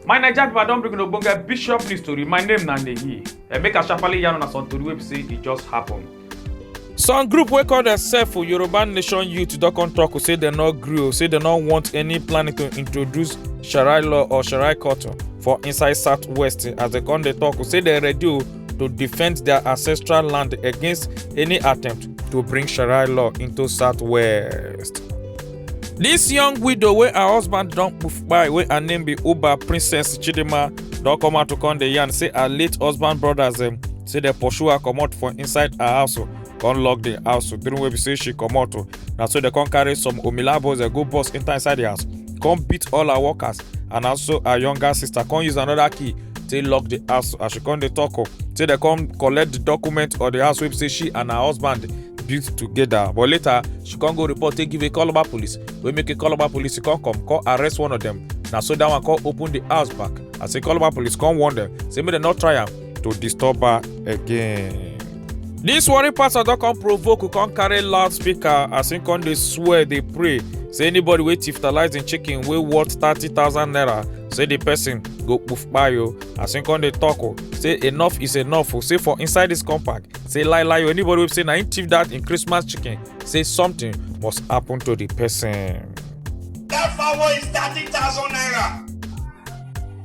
my naija pipo i don bring una ogbonge bishop news tori my name na neyi eh, make i sharparly yarn una some tori wey be say e just happen. some group wey call themselves yoruba nation youth don come tok say dem no gree o say dem no want any planning to introduce sharia law or sharia court for inside southwest as dem come dey tok say dem ready o to defend their ancestral land against any attempt to bring Sharia law into Southwest. This young widow wey her husband don poof kpai wey her name be Uba Princess Chidinma don come out to come dey yarn say her late husband brothers dem say dem pursue her comot for inside her house o come lock the house o during wey be say she comot o na so dem come carry some omilabos dem go burst enter inside the house come beat all her workers and also her younger sister come use another key take lock the house as she come dey talk o say dem come collect the document or the house wey be say she and her husband built together but later she come go report take give a calabar police wey make a calabar police come come come arrest one of them na so that one come open the house back as a calabar police come warn them say make dem no try am to disturb her again. This worry pastor don come provoke who come carry loudspeaker as him come dey swear dey pray say anybody wey tiftalize him chicken wey worth thirty thousand naira say the person go poof kpayo as him come dey talk o say enough is enough o say for inside this compound say lie lie o anybody wey say na him thief that him christmas chicken say something must happen to the person. That fowl is thirty thousand naira.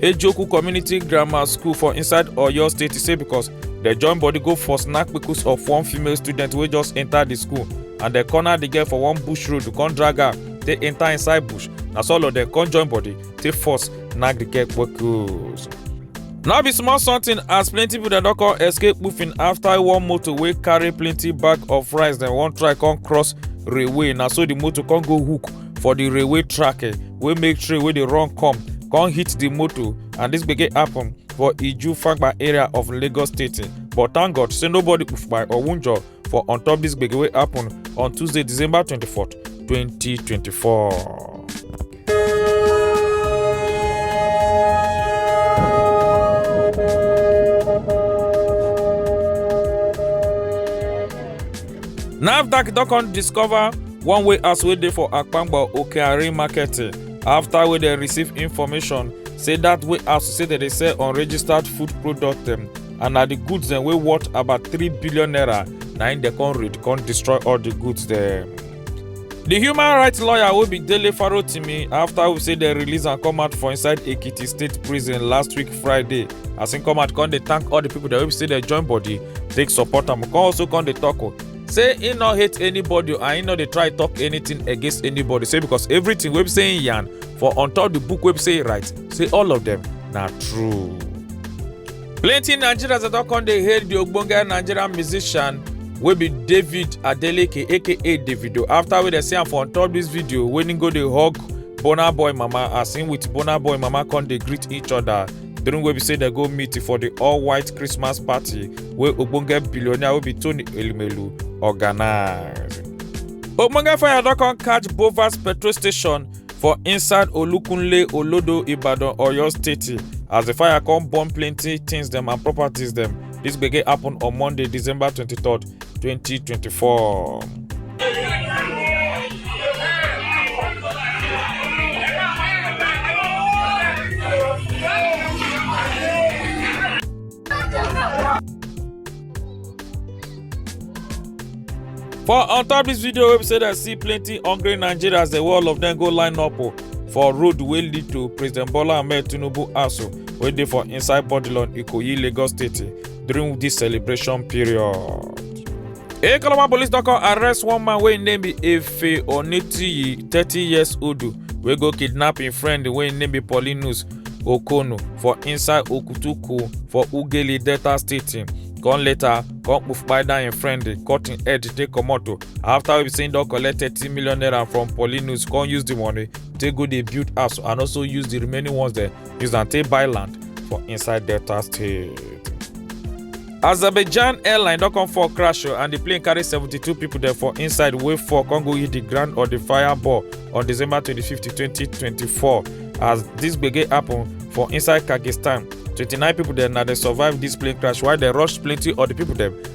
ejoku community grammar school for inside oyo state e say because dem join body go for snack kpekus of one female student wey just enter di school and dem corner di girl for one bush road come drag her take enter inside bush na so all of dem come join body take force knack di girl kpekus. no be small something as plenty people dem don come escape kpufin after one motor wey carry plenty bag of rice dem wan try come cross railway na so the motor come go hook for the railway track eh, wey make train wey dey run come come hit the motor and this gbege happen for iju fagba area of lagos state eh. but thank god say nobody kpai or wunjure for on top this gbege wey happen on tuesday december 24 2024. nafdac don come discover one way as wey dey for akpangba okeari market after wey dem receive information say that way as say dem dey sell unregistered food product dem and na the goods dem wey worth about three billion naira na im dem come raid come destroy all the goods dem. the human rights lawyer wey be dele farotimi after we say dem release am come out for inside ekiti state prison last week friday as im come out come dey thank all the people dem wey be say dem join body take support am come also come dey talk o say he no hate anybody and he no dey try talk anything against anybody say because everything wey be say he yarn for on top the book wey be say he write say all of them na true. plenty nigerians dey don come dey hail the ogbonge nigerian musician wey be david adeleke aka davido after wey dem see am for on top this video wey he go dey hug burna boy mama as him with burna boy mama come dey greet each other during wey be say dem go meet for di all-white christmas party wey ogbonge billionaire wey be tony elumelu organise. ogbonge fire don come catch bovas petrol station for inside olukunle olodo ibadan oyo state as di fire come burn plenty things dem and properties dem dis gbege happen on monday december 23rd 2024. For on top this video wey be say dem see plenty hungry Nigerians dey all of dem go line up o for road wey lead to President Bola Ahmed Tinubu house o wey dey for inside Bodilon Ikoyi Lagos State during this celebration period. Ekalama police don come arrest one man wey im name be Efe Onitiyi, thirty years old, wey go kidnap im friend wey im name be Paulinus Okono for inside Okutuku for Ughelli, Delta State. Come later, come kpufkpai down im friend, cut im head take comot o. After wey be say im don collect thirty million naira from Paulinus, come use the money take go dey build house and also use the remaining ones dem use am take buy land for inside delta state azerbaijan airline don come fall crash o and di plane carry 72 pipo dem for inside wey fall come go hit di ground of di fireball on december 25 2024 as dis gbege happen for inside kyrgyzstan 29 pipo dem na dem survive dis plane crash while dem rush plenty of di pipo dem